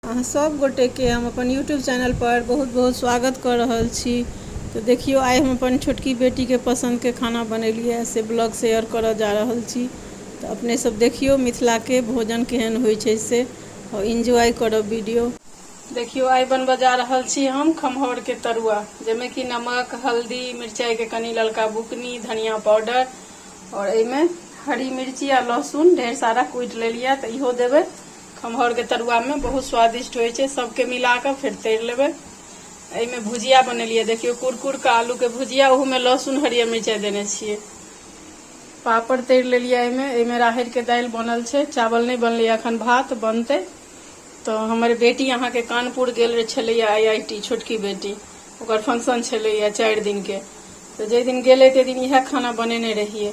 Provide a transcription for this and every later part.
अहाँ सब गोटे के हम अपन यूट्यूब चैनल पर बहुत बहुत स्वागत कऽ रहल छी तऽ देखियौ आइ हम अपन छोटकी बेटी के पसंद के खाना बनेलियै से ब्लॉग शेयर करऽ जा रहल छी तऽ अपने सब देखियौ मिथिला के भोजन केहन होइ छै से और एंजॉय करब वीडियो देखियौ आइ बनबऽ जा रहल छी हम खमहौर के तरुआ जाहिमे कि नमक हल्दी मिरचाई के कनी ललका बुकनी धनिया पाउडर और एहिमे हरी मिर्ची आ लहसुन ढेर सारा कुटि लेलियै तऽ इहो देबै खमहौरके तरुआमे बहुत स्वादिष्ट होइ छै सभके मिला कऽ फेर तरि लेबै एहिमे भुजिया बनेलियै देखियौ कुरकुरके आलूके भुजिया ओहूमे लहसुन हरियर मिरचाइ देने छियै पापड़ तरि लेलियै एहिमे एहिमे राहरिके दालि बनल छै चावल नहि बनलै एखन भात बनतै तऽ हमर बेटी अहाँके कानपुर गेल छलैए आई आई टी छोटकी बेटी ओकर फंक्शन छलैए चारि दिनके तऽ जाहि दिन गेलै ताहि दिन इएह खाना बनेने रहियै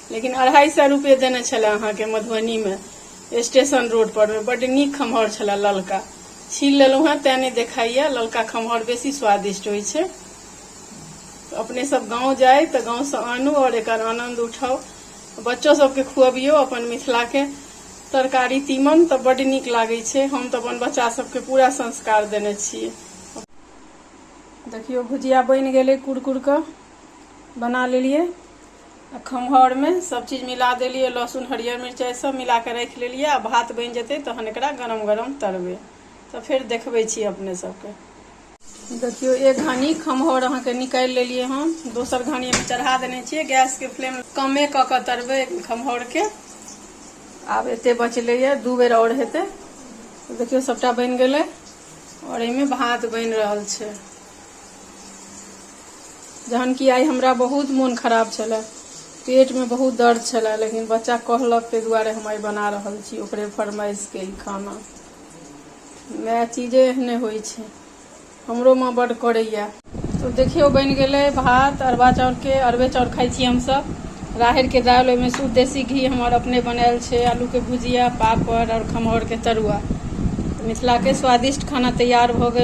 लेकिन अढ़ाई सए रुपये देने छले अहाँके मधुबनी में स्टेशन रोड पर में बड नीक खमहर छले ललका छील लेलहुँ हेँ तैं नहि देखाइए ललका खमहर बेसी स्वादिष्ट होइ छै अपने सब गाँव जाय तऽ गाँवसँ आनू आओर एकर आनन्द उठाउ बच्चो सबके खुअबियौ अपन मिथिलाके तरकारी तीमन तऽ बड नीक लागै छै हम तऽ अपन बच्चा सबके पूरा संस्कार देने छियै देखियौ भुजिया बनि गेलै कुरकुर कऽ बना लेलियै आ खम्हाउरमे सभचीज मिला देलियै लहसुन हरियर मिरचाइ सभ मिला कऽ राखि लेलियै आ भात बनि जेतै तहन एकरा गरम गरम तरबै तऽ फेर देखबै छी अपने सभके देखियौ एक घानी खम्हाउर अहाँके निकालि लेलियै हम दोसर घानी हम चढ़ा देने छियै गैसके फ्लेम कमे कऽ कऽ तरबै खम्हाउरके आब एते बचलैए दू बेर आओर हेतै देखियौ सभटा बनि गेलै आओर एहिमे भात बनि रहल छै जहन कि आइ हमरा बहुत मोन खराब छलै पेटमे बहुत दर्द छलै लेकिन बच्चा कहलक ताहि दुआरे हम आइ बना रहल छी ओकरे फरमाइशके ई खाना माय चीजे एहने होइ छै हमरो माँ बड्ड करैए तो देखियौ बनि गेलै भात अरबा चाउरके अरबे चाउर खाइ छी हमसभ राहरिके दालि ओहिमे शुद्ध देसी घी हमर अपने बनायल छै आलूके भुजिया पापड़ आओर खमहौरके तरुआ मिथिलाके स्वादिष्ट खाना तैयार भऽ गेल